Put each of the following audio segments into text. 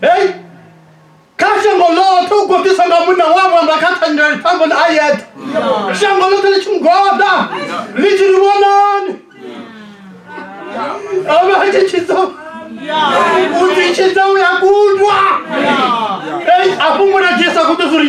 Hey! kha shango ḽoṱhe u gobiswa nga munna wa vhamba kha thanyela ḽifhambo na ayete shango ḽoṱhe ḽi tshi mugoda ḽi tshi ri vhonani avha a tshi tshidza u tshi tshidza u ya kundwa afho muladzhisa ku ḓo zuri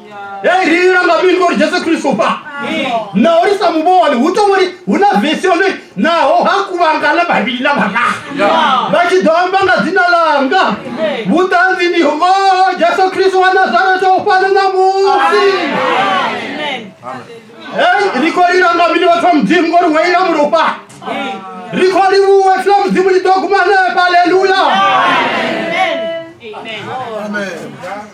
yairira nga mini uri jesu kristu pa naho ri sa muvhoni hu to uri hu na vesi yo ri naho ha kuvhangana vhavhili na vhana vha tshi ḓo amba nga dzina langa vhuṱanzi ndi ho jesu kristu wa nazareto u fana na musi Hey, ri khou lila nga mini vhathu vha mudzimu ngori wo ila mulopa ri khou livhuwa tshila mudzimu ḽi ḓo guma hanefha aleluya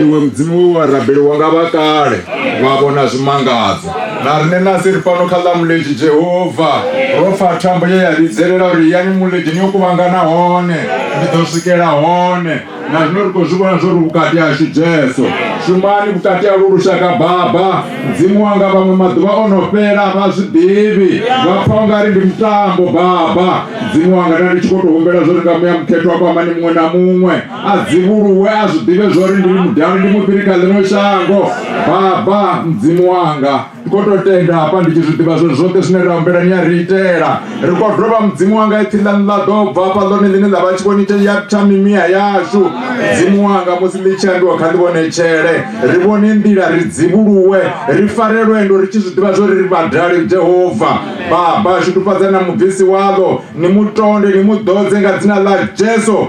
iwe mudzimu we wa rabeliwa nga vha kale vha vhona zwimangadzo na rine nasi ri fano kha ḽa muledzhi jehova ro pfa thambo ye ya vhidzelela uri yani muledzhini yo kuvhangana hone ndi ḓo swikela hone na zwino ri khou zwi vhona zwo ri vhukati hashu jesu shumani vhukati ha lu lushaka baba mudzimu wanga vhaṅwe maḓuvha o no fhela vha zwi ḓivhi vha pfa u nga ri ndi mutambo baba mudzimu wanga nda ndi tshi khou tou humbela zwo ri nga muya mukhethwa kwamani muṅwe na muṅwe a dzivhuluwe a zwi ḓivhe zwori ndi mudani ndi mufhiri kha ḽino shango baba mudzimu wanga ndi khou tou tenda hafha ndi tshi zwi ḓivha zwo zwoṱhe zwine ra humbela ni a ri itela ri khou dovha mudzimu wanga ipfhi ḽa ḽa ḓo bva hafha ḽone ḽine ḽa vha tshivhonite ya tsha mimiya yashu mudzimu wanga musi ḽi tshi ambiwa kha ḽivhonetshele ri vhone nḓila ri dzivhuluwe ri fare lwendo ri tshi zwi ḓivha zwori ri vhadali jehova baba shudufhadza na mubvisi waḽo ni mutonde ni mu ḓodze nga dzina ḽa jesu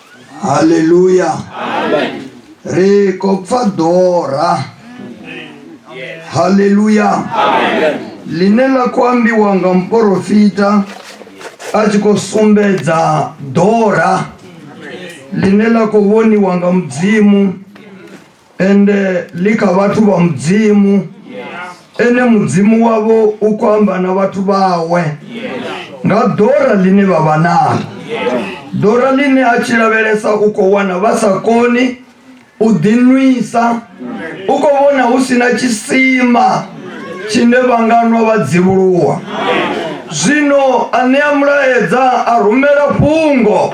haleluya ri khou pfa ḓora haleluya ḽine ḽa khou ambiwa nga muporofita a tshi khou sumbedza ḓora ḽine ḽa khou vhoniwa nga mudzimu ende ḽi kha vhathu vha mudzimu ene mudzimu wavho u khou amba na vhathu vhawe nga ḓora ḽine vha vha nalo ḓora ḽine a tshi lavhelesa u khou wana vha sa koni u ḓinwisa u khou vhona hu si na tshisima tshine vha nga nwa vha dzivhuluwa zwino a ṋea mulaedza a rumela fhungo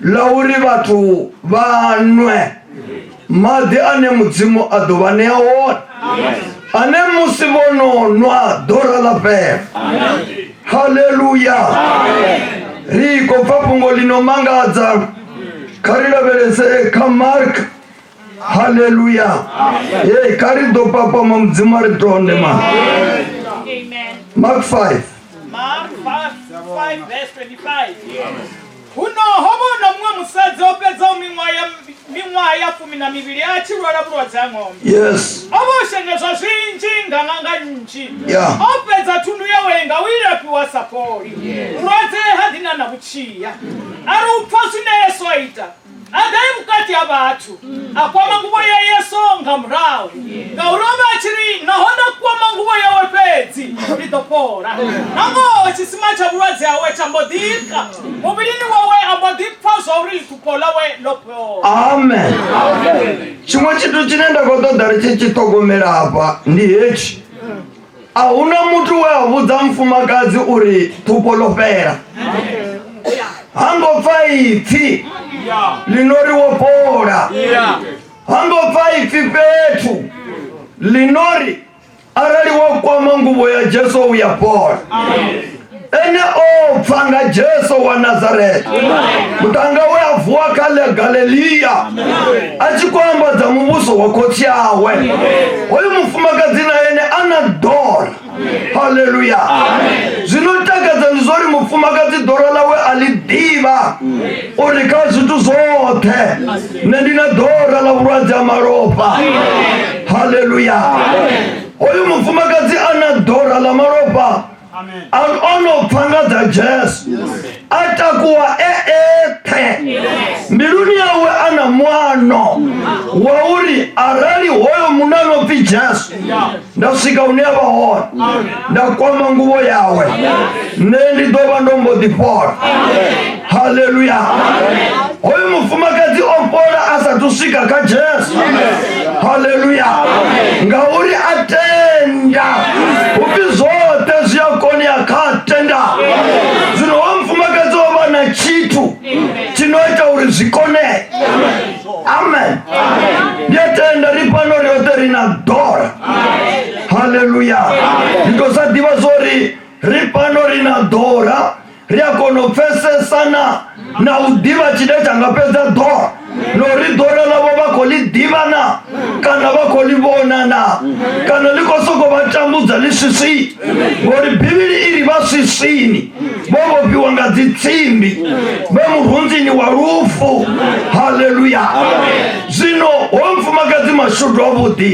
ḽa uri vhathu vha nwe maḓi ane mudzimu a ḓo vha ṋea one ane musi vho no nwa ḓora ḽa fhela haleluya ri khou pfa fhungo ḽi no mangadza kha ri lavhelese kha mark haleluya e kha ri ḓo papama mudzimu a ri tonde ma mark 5 Mark 5, 5 verse 25. Yes. Huno ho vha hu na muṅwe musadzi o fhedzaho miṅwaha ya miṅwaha ya fumi na mivhili a tshi lwala vhulwadze ha ṅombe Yes. o vha o shengedzwa zwinzhi nga ṅanga nnzhi Yeah. o fhedza thundu yawe nga u ilafhiwa sa fholi vhulwadze ha ḓi na na vhutshia a ri u pfa zwine yesu a ita adai vhukati ha vhathu a kwama nguvho ya yesu nga murahu ngauri o vha a tshi ri naho nda kwama nguvho yawe fhedzi ndi ḓo fhola nangoho tshisima tsha vhulwadze hawe tsha mbo ḓika muvhilini wawe a mbo ḓi pfa zwa uri ḓupho ḽawe ḽo fhola amen tshiṅwe tshithu tshine nda khou ṱoḓa ri tshi tshi ṱhogomela hafha ndi hetshi a hu na muthu we a vhudza mufumakadzi uri ṱhupo ḽo fhela ha ngo pfa ipfi ḽino ri wo fhola ha ngo pfa ipfi fhethu ḽino ri arali wo kwama nguvho ya jesu u ya fhola ene o pfa nga jesu wa nazareta mutanga we a vuwa kha ḽa galileya a tshi khou ambadza muvhuso wa khotsi awe hoyu mufumakadzi na ene a na dora haleluya zwino takadza ndi zwa uri mufumakadzi dora ḽawe a ḽi ḓivha uri kha zwithu zwoṱhe nṋe ndi na dora ḽa vhulwadze ha malofha haleluya hoyu mufumakadzi a na dora ḽa malofha ono pfa nga dza jesu a takuwa e eṱhe mbiluni yawe a na mwano wa uri arali hoyo munna no pfi jesu nda swika hune ya vha hone nda kwama nguvho yawe nṋe ndi ḓo vha ndo mbo ḓi fhola haleluya hoyu mufumakadzi o fhola a sa thu swika kha jesu haleluya ngauri a tenda upfi zwoṱhe zwi a konea kha tenda zwino wa mufumakadzi o vha na tshithu tshi no ita uri zwi konee amen ndi a tenda ri fhano ri yoṱhe ri na dora haleluya ndi to sa ḓivha zwo ri ri fhano ri na dora ri a kona u pfesesana na u ḓivha tshine tsha nga fhedza ḓo na uri ḓora ḽavho vha khou ḽi ḓivha na kana vha khou ḽi vhona na kana ḽi khou sokou vha tambudza ḽi swiswi ngori bivhili i ri vha swiswini vho vhofhiwa nga dzitsimbi vhe murunzini wa lufu haleluya zwino ho mfumakadzi mashudu avhuḓi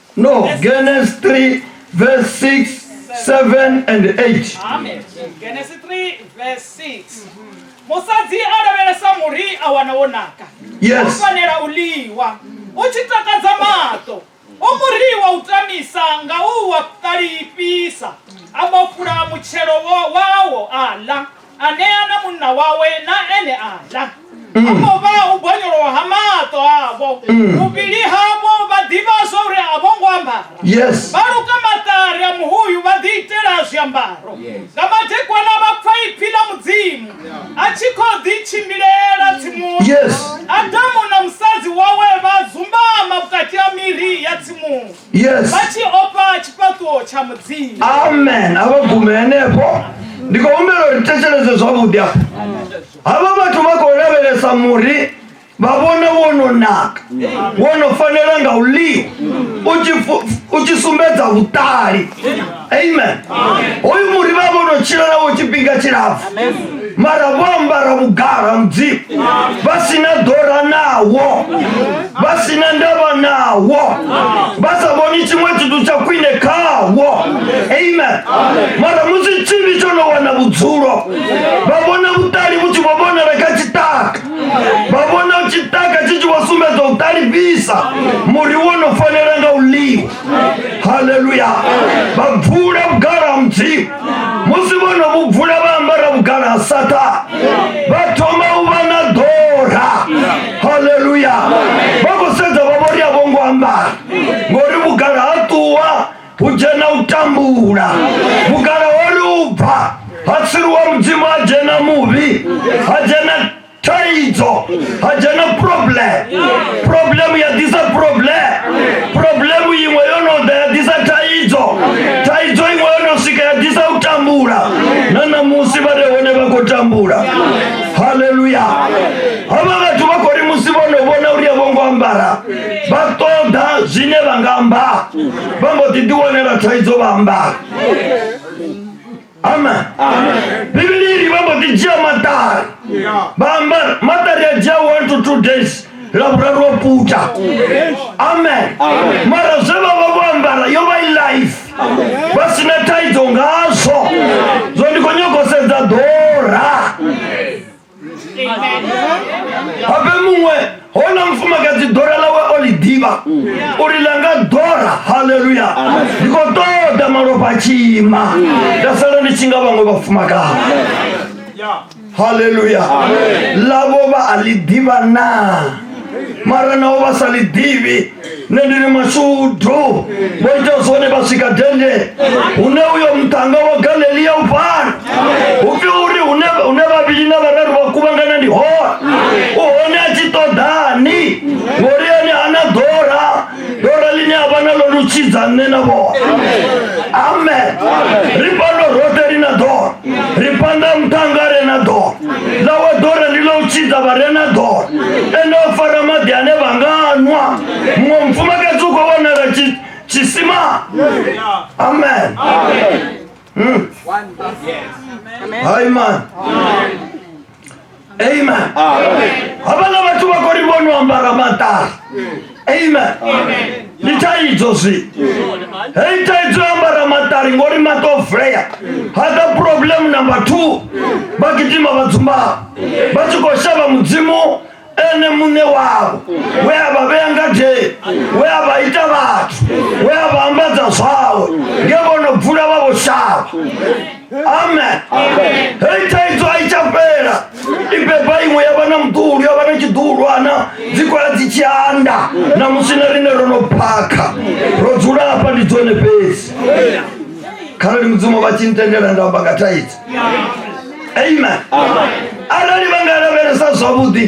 No, Genesis 3, verse 6, 7, and 8. Amen. Genesis 3 verse 6. Musadzi a lavhelesa muri a wana wo naka. Yes. U fanela u liwa. U tshi takadza maṱo. U muri wa u tamisa nga u wa ṱalifhisa. A vho fula mutshelo wo wawo a ḽa. a ṋea na munna wawe na ene a ḽa ho no vha u gonyolowa ha maṱo avho vhuvhili havho vha ḓivha zwa uri a vho ngo ambara yes vha luka maṱari a muhuyu vha ḓi itela zwiambaro nga madekwana vha pfa ipfi ḽa mudzimu a tshi khou ḓi tshimbilela tsimuni yes adamu na musadzi wawe vha dzumbama vhukati ha miri ya tsimuni yes vha tshi ofha tshifhaṱuwo tsha mudzimu amen a vha gume henefho ndi khou humbela uri thetsheleze zwavhuḓi afho havha vhathu vha khou lavhelesa muri vha vhona wo no naka wo no fanela nga u ḽiwa u tshi fu- u tshi sumbedza vhuṱali amen hoyu muri vha vho no tshila navho tshifhinga tshilapfu mara vho ambara vhugala mudzimu vha si na ḓora nawo vha si na ndavha nawo vha sa vhoni tshiṅwe tshithu tsha khwine khawo amen mara musi tshivhi tsho no wana vhudzulo vha vhona vhuṱali vhu tshi vho vhonala kha tshitaka vha vhona tshitaka tshi tshi vho sumbedza u ṱalifhisa muri wo no fanela nga u ḽiwa haleluya vha bvula vhugala ha mudzimu musi vho no vhu bvula vha ambara vhugala ha sata vha thoma u vha na ḓora haleluya vha khou sedza vha vhori a vho ngo ambara ngori vhugala ha ṱuwa hu dzhena u tambula vhugala ho ri u bva ha tsiriwa mudzimu ha dzhena muvhi ha dzhena thaidzo ha dzhena problem problem ya ḓisa problem problem iṅwe yo no ḓa ya ḓisa thaidzo thaidzo iṅwe yo no swika ya ḓisa u tambula na ṋamusi vha re hone vha khou tambula haleluya havha vhathu vha khou ri musi vho no vhona uri a vho ngo ambara vha ṱoḓa zwine vha nga amba vha mbo ḓi ḓiwanela thaidzo vha ambara amen bivhili iri vha mbo ḓi dzhia maṱari vha amba maṱari a dzhia one to two days ḽa vhuraru wa puta amen mara zwe vha vha vho ambara yo vha i life vha si na thaidzo ngazwo zwo ndi khou nyago sedza ḓora habe muṅwe hona mufumakadzi dora ḽawe o ḽi ḓivha uri ḽa nga dora halleluya ndi khou ṱoḓa malofha a tshiima nda sala ndi tshi nga vhaṅwe vhafumakadzi halleluya ḽavho vha a ḽi ḓivha naa mara naho vha sa ḽi ḓivhi nṋe ndi ri mashudu vho ita zwone vha swika dende hune uyo muṱhanga wa galelia u pfala hu pfi uri hune vhavhili na vhararu vha kuvhangana ndi hone u hone a tshi ṱoḓani ngori ene ana ḓora ḓora ḽine a vha nalo lutshidza nṋe na vhone amen ri fhano roṱhe ri na ḓora ri panda muṱanga re na ḓora ḽa wa ḓora ndi ḽa u tshidza vha re na ḓora ende o fara maḓi ane vha nga nwa muṅwe mufumakadzi u khou vhonala tshisima amen hmm. hai man amen havhala vhathu vha khou ri vhono ambara maṱari amen ndi thaidzo zwi hei thaidzo ya ambara maṱari ngori maṱo vulea hada problem number two vha gidima vha dzumbaa vha tshi khou shavha mudzimu ene muṋe wavho we a vha vhea ngadeni we a vha ita vhathu we a vha ambadza zwawe nge vho no bvula vha vho shavha amen hei thaidzo a i tsha fhela i beba iṅwe ya vha na muḓulu ya vha na tshiḓulwana dzi kwala dzi tshi anda na musi na rine ro no phakha ro dzula hafha ndi dzone fhedzi kharali mudzimu vha tshi ntendela nda amba nga thaidzo amen arali vha nga lavhelesa zwavhuḓi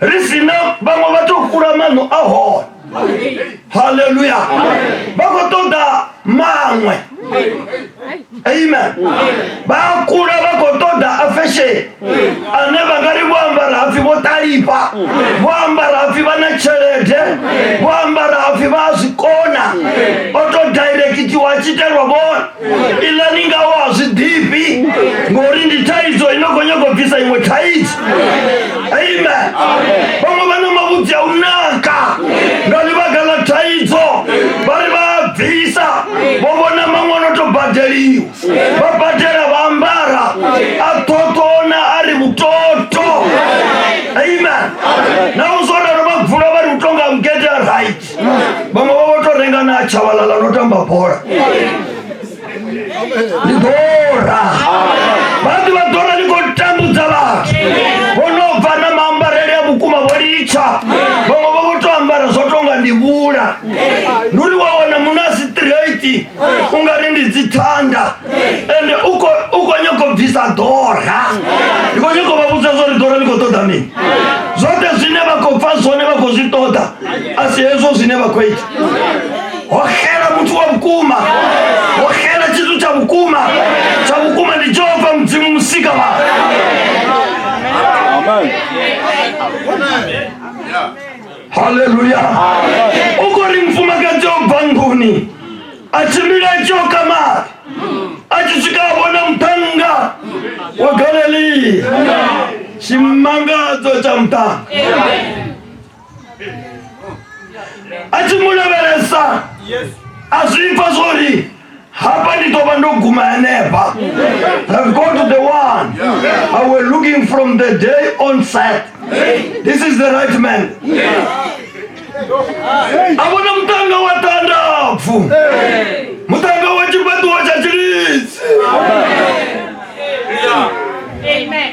ri si na vhaṅwe vha tou kula maṋo a hone haleluya vha khou ṱoḓa maṅwe amen vha kula vha khou ṱoḓa a fesheni ane vha nga ri vho ambara hapfi vho ṱalifha vho ambara hapfi vha na tshelede vho ambara hapfi vha a zwi kona o tou direct itiwa a tshi itelwa vhone iḽa ni nga wa zwi ḓifhi ngori ndi thaidzo ino khou nyago bvisa iṅwe thaidzo amen vhaṅwe vha na mavhudzi a u naka nga ḽivhaga ḽa thaidzo vha ri vha a bvisa vho vhona maṅwe ono to badeliwa vha badela vha ambara a ṱhoṱona a ri vhutoto amen na u zwo ralo vha vula vha ri u tonga mugede a right vhaṅwe vha vho to renga na tshabalala no tamba bola ni ḓora vhaḓi vha ḓora ni khou tambudza vhathu vho no bva na maambarele a vhukuma vho litsha vhaṅwe vha vho to ambara zwo tonga ndi vhula ndi uri wa wana muno a si straight u nga ri ndi dzithanda ende u khou- u khou nyako bvisa ḓora ndi khou nyako vha vhudza zwo ri ḓora ni khou ṱoḓa mini zwoṱhe zwine vha khou pfa zwone vha khou zwi ṱoḓa a si hezwo zwine vha khou ita ho xela muthu wa vhukuma ho xela tshithu tsha vhukuma tsha vhukuma ndi jehova mudzimu musika vha haleluya u khou ri mufumakadzi o bva nḓuni a tshimbila a tshi oka mali a tshi swika a vhona muṱhannga wa galilea tshimangadzo tsha muṱhannga a tshi mu lavhelesa a zwi pfa zwori hapa ndi ḓo vha ndo guma henefha have gone to the one but we're looking from the day on set this is the right man a vhona mutanga wa tandapfu mutanga wa tshifhaṱuwo tsha tshilidzi Amen.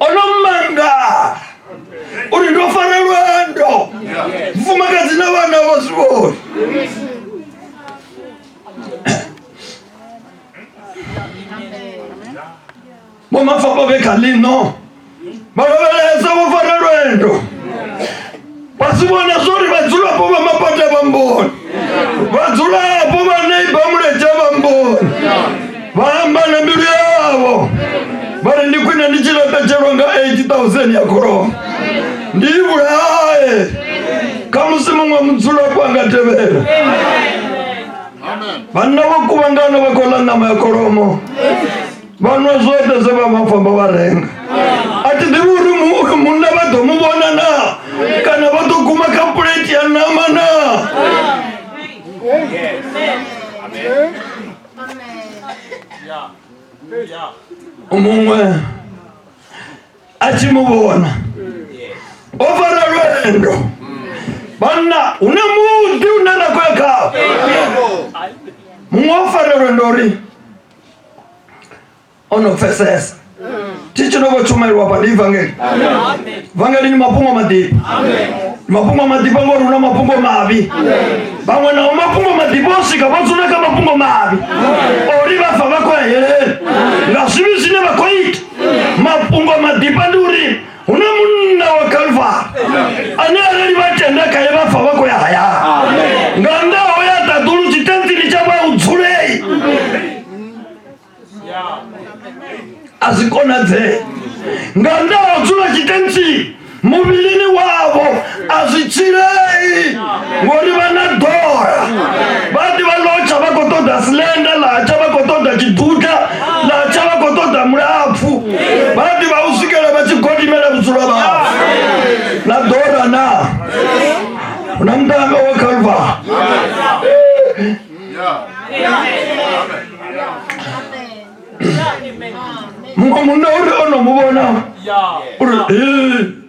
ono manga uri ndo fara lwendo mfumakadzi na vhana vho zwi vhoni vho mafhafha vhe kha ḽino vha lavhelesa vho fara lwendo vha si vhona zwori vhadzulapo vha mapata vha mboni vhadzulapo vha neiba muledzha vha mboni vha amba na mbilu yavho vha ri ndi khwine ndi tshi laṱetshelwa nga 8000 ya kholomo ndi i vhulaye kha musi muṅwe mudzulapo a nga tevhela vhanna vho kuvhangana vha khou ḽa ṋama ya kholomo vha nwa zwoṱhe zwe vha vha famba vha renga a thi ḓivhi uri mu- munna vha ḓo mu vhona na kana vha ḓo guma kha puleti ya nama na muṅwe a tshi mu vhona o fara lwendo vhanna hune muḓi une ra khou ya khawo muṅwe o fara lwendo uri o no pfesesa tshi tshi no vho tshumelwa hafha ndi ivangeli vangeli ni mafhungo maḓifha Ni mafhungo maḓifha ngori hu na mafhungo mavhi vhaṅwe nao mafhungo maḓifha o swika vha dzula kha mafhungo mavhi ori vha bva vha khou ya heleni nga zwivhi zwine vha khou ita mafhungo maḓifha ndi uri hu na munna wa kalvari ane arali vha tenda khaye vha pfa vha khou ya hayani nga nnḓa ho ya ṱaḓulu tshitenzini tsha vha u dzulei a zwi konadzee nga nnḓa ha u dzula tshitenzini muvhilini wavho a zwi tshilei ngori vha na ḓola vha ḓi vha lotsha vha khou ṱoḓa silenda latsha vha khou ṱoḓa tshiduka latsha vha khou ṱoḓa mulapfu vha ḓi vha u swikela vha tshi godimela vhudzulo vhao na ḓora na hu na mutambo wa khalva muṅwe munna uri o no mu vhona uri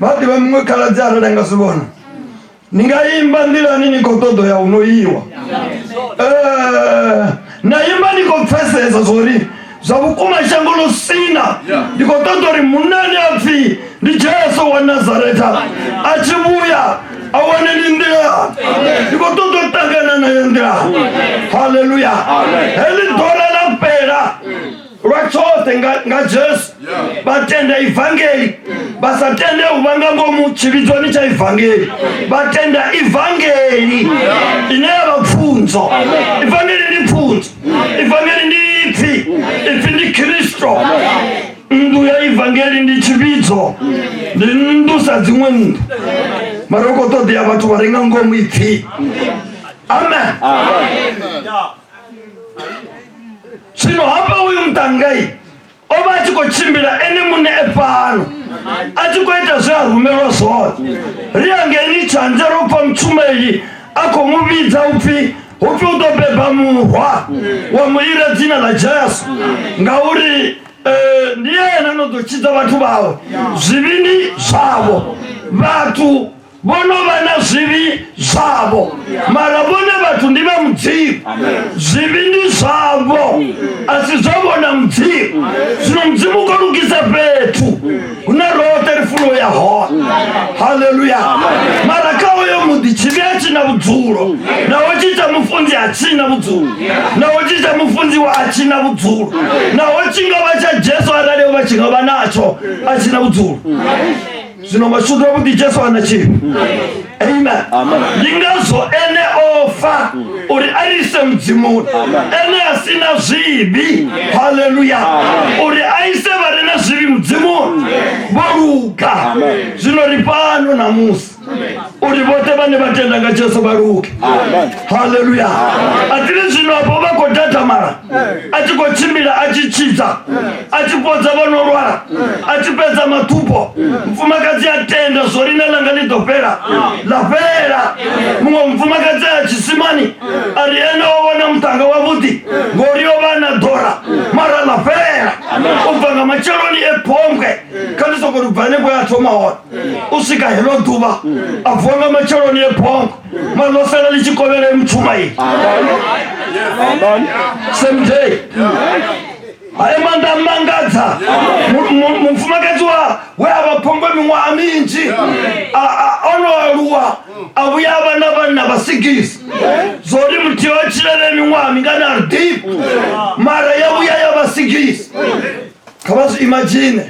vha ḓivha muṅwe khaladzi arali anga zwi vhona ni nga imba nḓilani ni khou ṱoḓo ya huno iwa eh, na imba ni khou pfesesa zwori zwa vhukuma shango ḽo sina ndi khou ṱoḓa uri munani a pfhi ndi jesu wa nazaretha a tshi vhuya a wane ni nḓilani ndi khou ṱoḓa u ṱangana nayo nḓilani halleluya heḽi ḓora ḽa fhela lwa tshoṱhe nga jesu vha tenda ivangeli vha sa tende u vha nga ngomu tshivhidzwani tsha ivangeli vha tenda ivangeli ine ya vha pfunzo ivangeli ndi pfunzo ivangeli ndi ipfi ipfi ndi khristo nnḓu ya ivangeli ndi tshivhidzo ndi nnḓu sa dziṅwe nnḓu mara u khou ṱoḓea vhathu vha re nga ngomu ipfi amen, amen. amen. zwino hafha uyu muṱangai o vha a tshi khou tshimbila ene muṋe e fhano a tshi khou ita zwe a rumelwa zwone ri angeni tshanze ro pfa mutshumeli a khou mu vhidza u pfhi hu pfi u ḓo beba murwa wa mu ira dzina ḽa jesu ngauri eh, ndi yena no ḓo tshidza vhathu vhawe zwivhindi zwavho vhathu vho no vha na zwivhi zwavho mara vhone vhathu ndi vha mudzimu zwivhi ndi zwavho a si zwavho na mudzimu zwino mudzimu u kho lugisa fhethu hune roṱhe ri funo ya hone haleluya mara kha hoyo muḓi tshivhi a tshi na vhudzulo naho tshi tsha mufunzi a tshi na vhudzulo naho tshi tsha mufunziwa a tshi na vhudzulo naho tshi nga vha tsha jesu arali o vha tshi nga vha natsho a tshi na vhudzulo zwino mashudu avhuḓi jesu ana tshifhi amen ndi ngazwo ene o fa uri a ri ise mudzimuni ene a si na zwivhi haleluya uri a ise vha re na zwivhi mudzimuni vho luga zwino ri fhano namusi uri vhoṱhe vhane vha tenda nga jesu vha luge haleluya atili zwino apo vha khou datamala a tshi khou tshimbila a tshi tshidza a tshi fhodza vha no lwala a tshi fhedza maṱhupo mfumakadzi a tenda zwo rine langa ḽi ḓo fhela ḽa fhela muṅwe mufumakadzi a tshisimani a ri ene o vhona muṱanga wavhuḓi ngori yo vha na ḓora mara ḽa fhela u bva nga matsheloni e phongwe kha ndi soko ri bva hanefho ya thoma hone u swika heḽo ḓuvha a vuwa nga matsheloni e phongwe Mano fela le chikobele mtumai. Same day. Aye manda mangadza. Mfumakadzi wa we ava pongwe miṅwaha minzhi. Ono aluwa a vhuya vha na vhanna vha sigisi. Zori muthu yo tshilele miṅwaha mingana ri deep. Mara ya vhuya ya vha sigisi. kha vha zwi imagine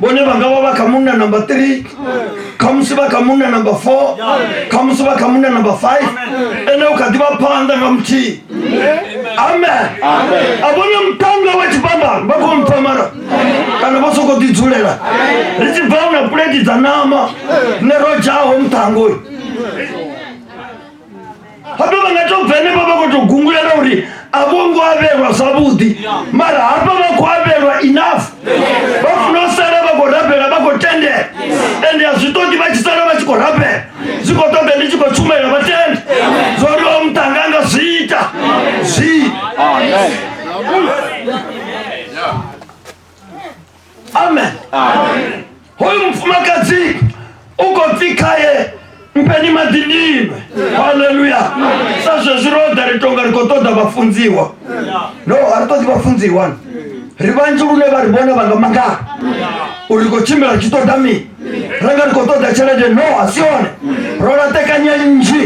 vhone vha nga vha vha kha munna number three khamusi vha kha munna number four khamusi vha kha munna number five ene u kha ḓi vha phanḓa nga muthihi amen a vhone mutanga wa tshifhambano vha khou mpfa mara kana vho sokou ḓi dzulela ri tshi bva u na puleti dza nama ne ro dzhaho muṱango uyu hafha vha nga to bva henefho vha khou tou gungulela uri a vho ngo avhelwa zwavhuḓi mara hafha vha khou avhelwa enough vha funa u sala vha khou rabela vha khou tendela ende a zwi ṱoḓi vha tshi sala vha tshi khou rabela zwi khou ṱoḓa ndi tshi khou tshumela vha tende zwo ri o muṱanga anga zwi ita zwi amen hoyu mfumakadzi u khou pfi khaye mpeni maḓi ndinwe haleluya sa zwezwi ro ḓa ri tonga ri khou ṱoḓa vhafunziwa no a ri ṱoḓi vhafunziwa ri vhanzhi lune vha ri vhona vha nga mangala uri ri khou tshimbila ri tshi ṱoḓa mini renga ndikho ṱoḓa tshelede no a si yone ro laṱekanya nnzhi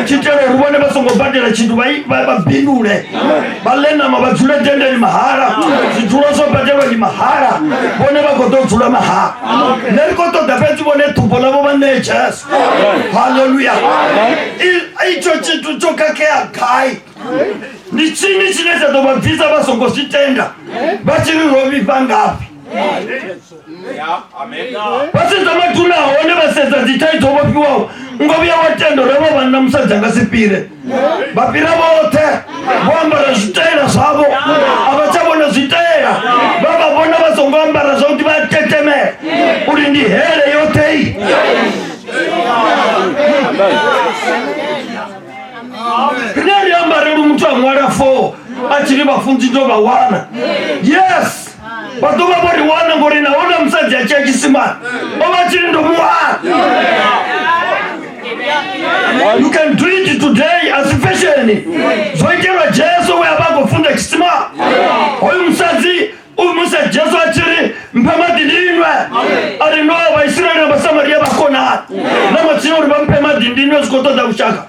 tshi itela uri vhone vha songo badela tshithu vha i- vha vha bindule vha ḽe ṋama vha dzule dendeni mahala zwidzula zwo badelwa ndi mahala vhone vha khou ḓo dzula mahala nṋe ndi khou ṱoḓa fhedzi vhone ṱhumbo ḽavho vha ṋee jesu halleluya I- itsho tshithu tsho khakhea gai ndi tshini tshine tsha ḓo vha bvisa vha songo zwi tenda vha tshi ri ro vhifha ngafhi vha sedza maduna hone vha sedza dzithaidzo vho fhiwaho ngo vhuya wa tendo ro vha vhanna musadzi anga si fhire vha fhira vhoṱhe vho ambara zwitaela zwavho a vha tsha vhona zwitaela vha vha vhona vha songo ambara zwa kuti vha tetemela uri ndi hele yoṱhei rine ri ambareli muthu a ṅwala fo a tshi ri vhafunzi ndo vha wana yes vhathu vha vho ri wana ngori na hona musadzi a tshia tshisimani vha vha tshiri ndo muwana you can do it today as fashion zwo itelwa jesu we avha a khou funda tshisima hoyu musadzi u musa jesu a tshiri mphe maḓi ndinwe a ri no vhaisraele na vhasamariya vha konani na matsina uri vha mphe maḓi ndinwe zwi khou ṱoḓa lushaka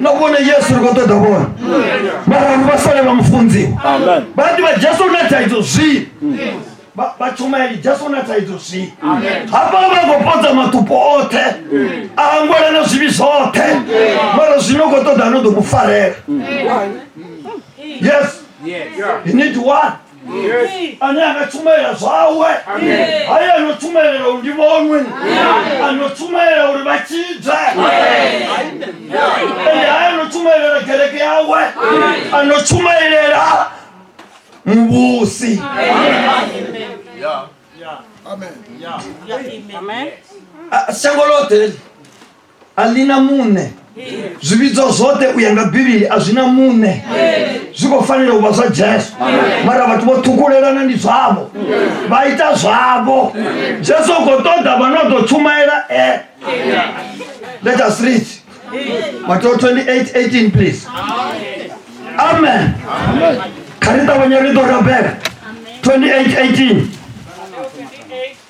no kuona yesu ri khou ṱoḓa vhona mara vanhu vha sole vha mufunziwa vhaḓi vha jesu na thaidzo zwii vhatshumaeli jesu na thaidzo zwii hafha vha khou podza matupo oṱhe a angwela na zwivhi zwoṱhe mara zwino khou ṱoḓa no ḓo mu farela yes you need one ane anga tshumayela zwawe haye ano tshumayela uri ndi vhonwe ano tshumayela uri vha tshidzwe ende haye ano tshumayelela kereke yawe ano tshumayelela muvhusi shango ḽoṱhe a ḽi na muṋe zwivhidzo zwoṱhe u ya nga bivhili a zwi na muṋe zwi khou fanela u vha zwa jesu mara vhathu vho ṱhukulelana ndi zwavho vha ita zwavho jesu u khou ṱoḓa vha no ḓo tshumaela e let us read mateo 28 18 please amen kha ri ṱavhanye ri ḓo rabela 28 18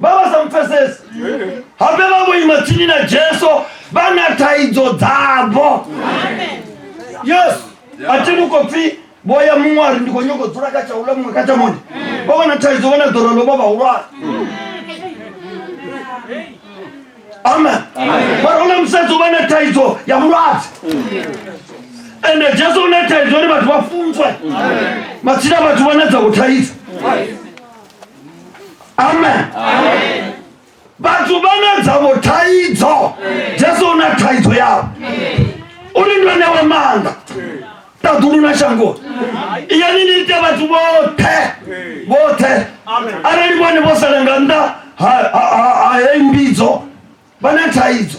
vha vha sa mpfesesi habe vha vho ima tsini na jesu vha na thaidzo dzavho yesu a thi ni khou pfi vho ya muṅwe a ri ndi khou nyoko dzula kha tsha ula muṅwe kha tsha mone vho vha na thaidzo vho na ḓora ḽo vha vhahulwane amen vha ri u na musadzi u vha na thaidzo ya vhulwadze ende jesu u na thaidzo uri vhathu vha funzwe matsina vhathu vha na dza u thaidzo amen vhathu vha na dzavho thaidzo jesu u na thaidzo yavho uri ndo newe maanḓa ṱaḓulu na shangoni iyani ni ite vhathu vhoṱhe vhoṱhe arali vhone vho sala nga nnḓa ha heyi mbidzo vha na thaidzo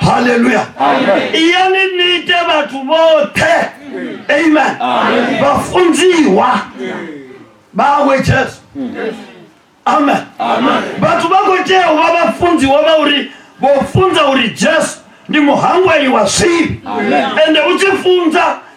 haleluya iyani ni ite vhathu vhoṱhe amen vhafunziwa vhawe jesu amen vhathu vha khou tea u vha vhafunziwa vha uri vho funza uri jesu ndi muhangweli wa zwivhi ende u tshi funza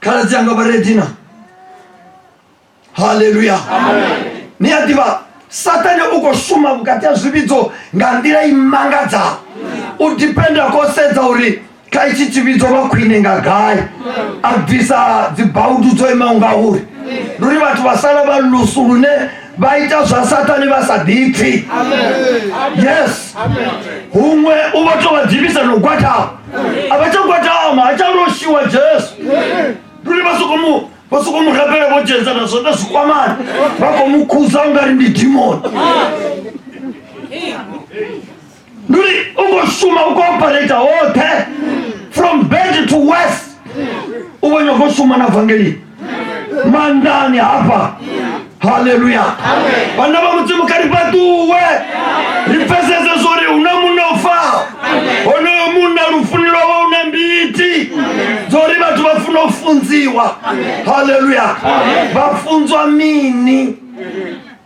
khaladzi anga vha redina haleluya ni a ḓivha satane u khou shuma vhukati ha zwivhidzo nga nḓila i mangadzaho u dipenda ko sedza uri kha itshi tshivhidzo vha khwine nga gai a bvisa dzibaudu dzo imaho ngauri ndi uri vhathu vha sala vha lusu lune vha ita zwa sathane vha sa ḓipfi yes huṅwe u vha tou vha ḓivhisa na u gwatama a vha tsha gwatama ha tsha loshiwa jesu lune vha soko mu vha soko mu rabela vho dzhenza na zwo na zwikwamani vha khou mu khuza u nga ri ndi dimoni ndi uri u khou shuma u khou operata hoṱhe from bed to west u vho nyoko shuma na vangeli mandani hafha haleluya vhana vha mudzimu kha ri fhaṱuwe ri pfesese zwo ri hu na munna u faho honoyo munna lufuni lwavha u na mbiti dzo ri vhathu vha funa u funziwa haleluya vha funzwa mini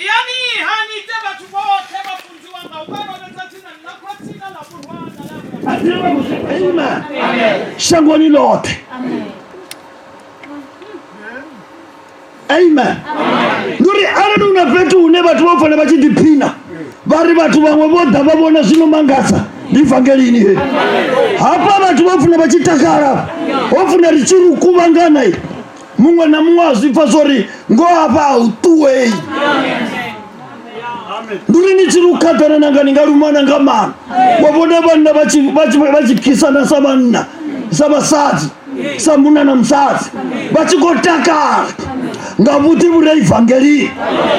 Iyani ha ni ite vhathu vhoṱhe vhafunzi wanga, u vha lovhedza dzina ḽa Khotsi na ḽa Murwa na ḽa Muya Mutsvene. Amen. Amen. Shangoni loṱhe. Amen. Ndi uri arali hu na fhethu hune vhathu vha fanela vha tshi ḓiphina vha ri vhathu vhaṅwe vho ḓa vha vhona zwino mangadza ndi evangelini he hafha vhathu vha funa vha tshi takala ho funa ri tshi ri kuvhangana muṅwe na muṅwe a zwi pfa zwo ri ngo hafha a u ṱuwei ndi uri ni tshi lu khaḓana nanga ni nga lumana nga mana wa vhona vhanna vha tshi- vha tshi- vha tshi khisana sa vhanna sa vhasadzi sa munna na musadzi vha tshi khou takala nga vhuḓi vhu re evangelini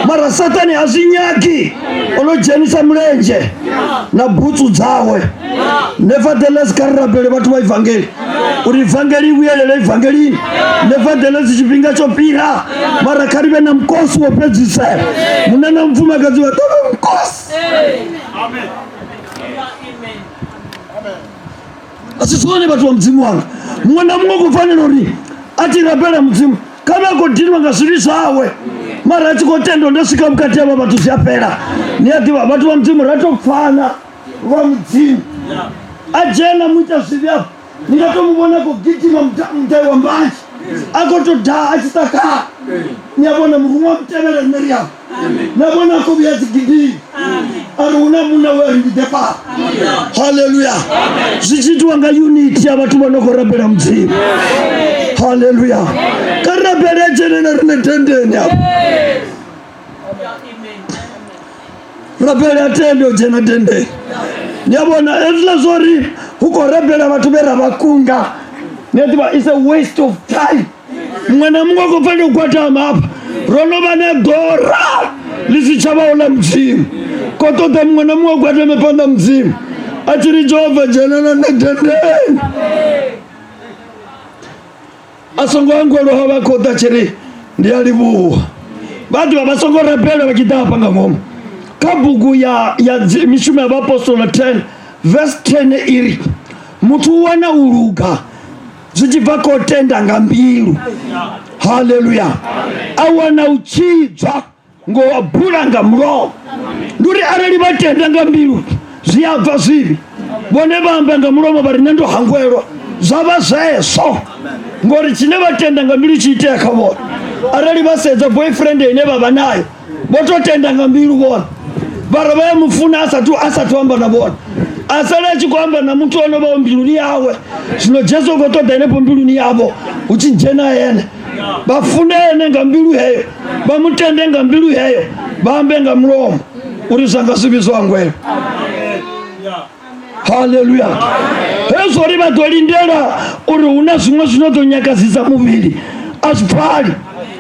mara sathane a zwi nyagi o no dzhenisa mulenzhe na butsu dzawe nevertheless kha ri rabele vhathu vha ivangeli uri ivangeli i vhuyelele ivangelini nevertheless tshifhinga tsho fhira mara kha ri vhe na mukosi wo fhedzisela munna na mufumakadzi vha ḓo vhe mukosi a si zwone vhathu vha mudzimu wanga muṅwe na muṅwe khou fanela uri a ti rabela mudzimu kha vhe a khou dinwa nga zwivhi zwawe mara a tshi khou tenda ndo swika vhukati havha vhathu zwi a fhela ni a ḓivha vhathu vha mudzimu ra tou pfana lwa mudzimu a dzhena mu ita zwivhi afho ni nga to mu vhona khou gidima muta- mudai wa mbanzhi a khou to daa a tshi sa khala ni a vhona muruṅwa wa mutevhela nṋe ri afho na vhona a khou vhuya dzigidimi a ri hu na muṋe we a ri ndi ḓe fara halleluya zwi tshi itiwa nga uniti ya vhathu vho no khou rabela mudzimu halleluya ka rabele a dzhene na riṋe dendeni afho rabela tende u dzhena tendeni ni a vhona hezwiḽa zwo ri hu khou rabela vhathu vhe ra vha kunga ni a ḓivha is a waste of time muṅwe na muṅwe khou fanela u gwadama hafha ro no vha na ḓora ḽi si tsha vhaho ḽa mudzimu ko ṱoḓa muṅwe na muṅwe gwadame phanḓa mudzimu a tshi ri jehova dzhenela nṋe dendeni a songo angoloha vha khou ḓa tshiri ndi a livhuwa vha dovha vha songo rabela vha tshi ḓa hafha nga ngomu kha bugu ya ya mishumo ya vhaapostola 10 verse 10 iri muthu u wana u luga zwi tshi bva khou tenda nga mbilu haleluya a wana u tshidzwa ngo wa bula nga mulomo ndi uri arali vha tenda nga mbilu zwi a bva zwivhi vhone vha amba nga mulomo vha ri nṋe ndo hangwelwa zwa vha zwezwo ngori tshine vha tenda nga mbilu tshi itea kha vhone arali vha sedza boyfriend ine vha vha nayo vho to tenda nga mbilu vhone vhara vha ya mufuna asathu asathu amba na vhone asala a tshi khou amba na muthu ono vhao mbiluni yawe zwino jesu u khou ṱoḓa henefho mbiluni yavho hu tshi dzhena ene vha funa ene nga mbilu heyo vha mu tende nga mbilu heyo vha ambe nga mulomo uri zwa nga zwi vhidzwa ngwelo haleluya hezwo uri vha ḓo lindela uri hu na zwiṅwe zwino ḓo nyakadzisa muvhili a zwi pfali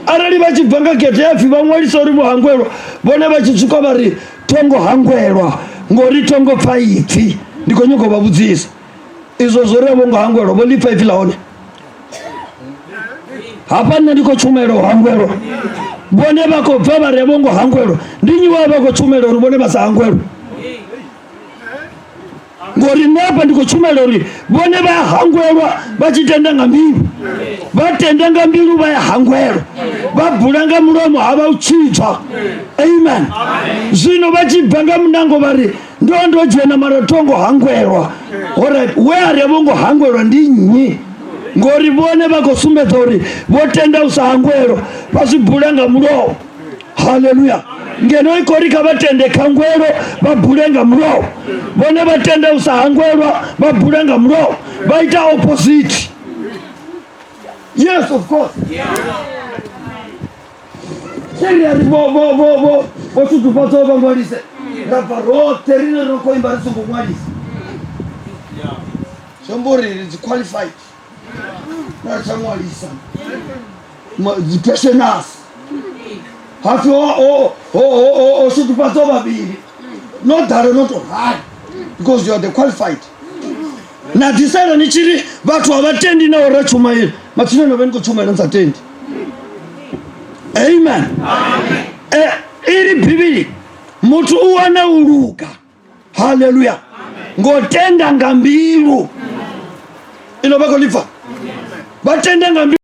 arali vha tshi bva nga gete ya pfhi vha ṅwalisa uri vho hangwelwa vhone vha tshi tswuka vha ri thongo hangwelwa ngori thongo pfa ipfhi ndi khou nyoko vha vhudzisa izwo zwo ri a vho ngo hangwelwa vho ḽi pfa ipfhi ḽa hone hafha nṋe ndi khou tshumela u hangwelwa vhone vha khou bva vha re vho ngo hangwelwa ndi nyi wavha vha khou tshumela uri vhone vha sa hangwelwa ngori nṋe hafha ndi khou tshumela uri vhone vha ya hangwelwa vha tshi tenda nga mbilu vha tenda nga mbilu vha ya hangwelwa vha bula nga mulomo ha vha u tshitswa amen zwino vha tshi bva nga munango vha ri ndo ndo dzhena mara tho ngo hangwelwa orit we a ri a vho ngo hangwelwa ndi nnyi ngori vhone vha khou sumbedza uri vho tenda u sa hangwelwa vha zwi bula nga mulowo haleluya ngeno i khori kha vha tende khangwelo vha bule nga mulowo vhone vha tenda u sa hangwelwa vha bula nga mulowo vha ita opposite yes of course yeah. senge ri vho vho vho vho vho ṱuṱufhadza u vha ṅwalise ra bva roṱhe rine ro khou imba ri songo ṅwalisa zwi amba uri ri dzi qualified ra ri tsha ṅwalisa dzi passioners hapfi o ṱuṱufhadza vhavhili no ḓalo no to rali because you are the qualified na ḓisela ni tshi ri vhathu a vha tendi na ora tshumaeli matsina no vhe ni khou tshumaela ni sa tendi amen e, iri bivhili muthu u wana u luga haleluya ngo tenda nga mbilu ilo vha khou ḽi pfa vha tenda nga mbilu